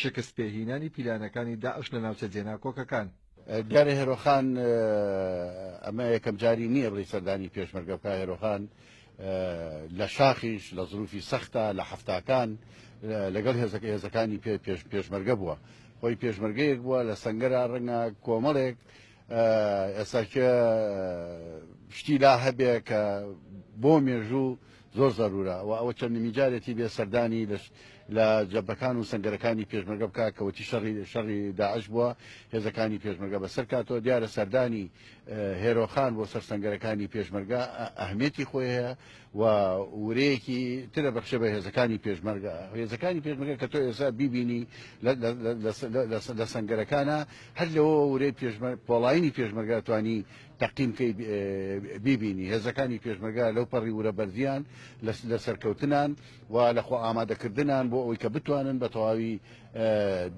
شکست پێ هینانی پیلانەکانی داعش لە ناوچە جێناکۆکەکان. دیارە هێرۆخان ئەمە یەکەم جاری نییە بڵی سەردانی پێشمەرگە بکە هێرۆخان لە شاخیش لە زروفی سەختە لە هەفتاکان لەگەڵ هێزەکە هێزەکانی پێ پێش پێشمەرگە بووە خۆی پێشمەرگەیەک بووە لە سنگەرا ڕەنگە کۆمەڵێک ئێستا کێ شتی لا هەبێ کە بۆ مێژوو زۆر زەرورە و ئەوە چەندمی جارێتی بێ سەردانی لە جەبەکان و سنگەرەکانی پێشمەگە بکە کەوتی شەڕی شەڕی داعش بووە هێزەکانی پێشمەگە بەسەر کاتەوە دیارە سەردانی هێرۆخان بۆ سەر سنگەرەکانی پێشمەرگە ئەهمێتی خۆی هەیە و ورەیەکی ترە بەخشە بە هێزەکانی پێشمەرگە هێزەکانی پێشمەرگە کە تۆ ئێستا بیبینی لە سنگەرەکانە هەر لەوە ورەی پۆڵینی پێشمەرگە توانی تەقیمکەی بیبینی هێزەکانی پێشمەرگە لەو پەڕی ورە بەردیان لە سەرکەوتنان و لەخۆ ئامادەکردنان بۆ ئەوی کە بتوانن بە تەواوی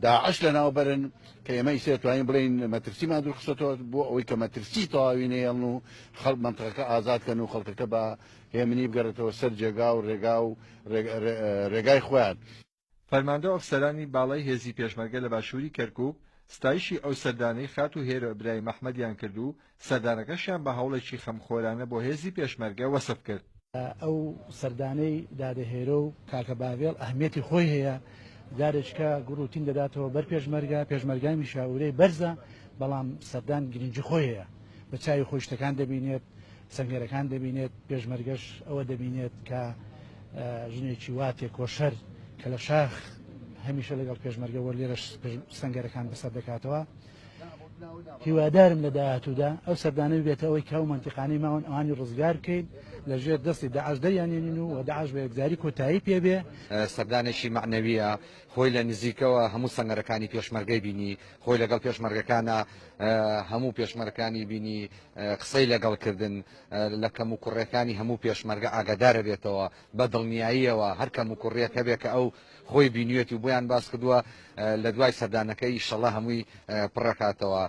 داعش لە ناوبەرن کە ئێمە ئیسێ توانین بڵین مەترسیمان دوورخسەوە بۆ ئەوی کە مەترسی تەواوی نێڵن و خەڵک مەنتقەکە ئازاد کەن و خەڵکەکە بە هێمنی بگەرێتەوە سەر جێگا و رێگا و رێگای خۆیان. فەرماندە ئەفسەرانی باڵای هێزی پێشمەرگە لە باشووری کەرکووک ستایشی ئەو سەردانەی خاتوو هێرۆ ئیبراهیم ئەحمەدیان کرد و سەردانەکەشیان بە هەوڵێکی خەمخۆرانە بۆ هێزی پێشمەرگە وەسف کرد. ئەو سەردانەی دادە هێرۆ و کاکە باڤێڵ ئەهمیەتی خۆی هەیە، جارێککە گوڕ و تین دەداتەوە بەر پێشمەرگە، پێشمەرگە میشاورەی بەرزە، بەڵام سەردان گرینگی خۆی هەیە، بە چاوی خۆی شتەکان دەبینێت، سەنگەرەکان دەبینێت، پێشمەرگەش ئەوە دەبینێت کە ژنێکی وا تێکۆشەر کە لە شاخ هەمیشە لەگەڵ پێشمەرگە وەرلێرەش سەنگەرەکان بەسەر دەکاتەوە، هیوادارم لە داهاتوودا ئەو سەردانە ببێتە ئەوەی کە ئەو مەنتیقانەی ماون ئەوانی ڕزگار بکەین لە ژێر دەستی داعش دەریانێنین و و داعش بە یەکجاری کۆتایی پێبێ سەردانێکی مەعنەوییە خۆی لە نزیکەوە هەموو سەنگەرەکانی پێشمەرگەی بینی خۆی لەگەڵ پێشمەرگەکانە هەموو پێشمەرەکانی بینی قسەی لەگەڵ کردن لە کەم و کوڕەکانی هەموو پێشمەرگە ئاگادارە بێتەوە بە دڵنیاییەوە هەر کەم و کوڕیەکە بێ کە ئەو خۆی بینوێت و بۆیان باس کردووە لە دوای سەردانەکە ئیشەڵا هەمووی پڕەکاتەوە.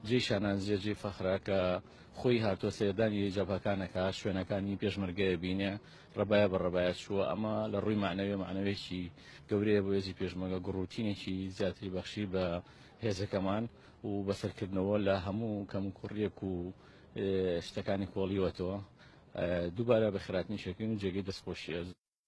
جێی شانازیە جێی فەخرە کە خۆی هاتووە سەردانی جەبهەکان ئەکا شوێنەکانی پێشمەرگەیە بینێ ڕەبایە بە ڕەبایە چووە ئەمە لە ڕووی مەعنەوێ مەعنەوێکی گەورەیە بۆ هێزی پێشمەگە گوڕوتینێکی زیاتری بەخشی بە هێزەکەمان و بەسەرکردنەوە لە هەموو کەم کوڕیەک و شتەکانی کۆڵیوەتەوە دووبارە بە خراتنی شەکەین و جێگەی دەستخۆشیە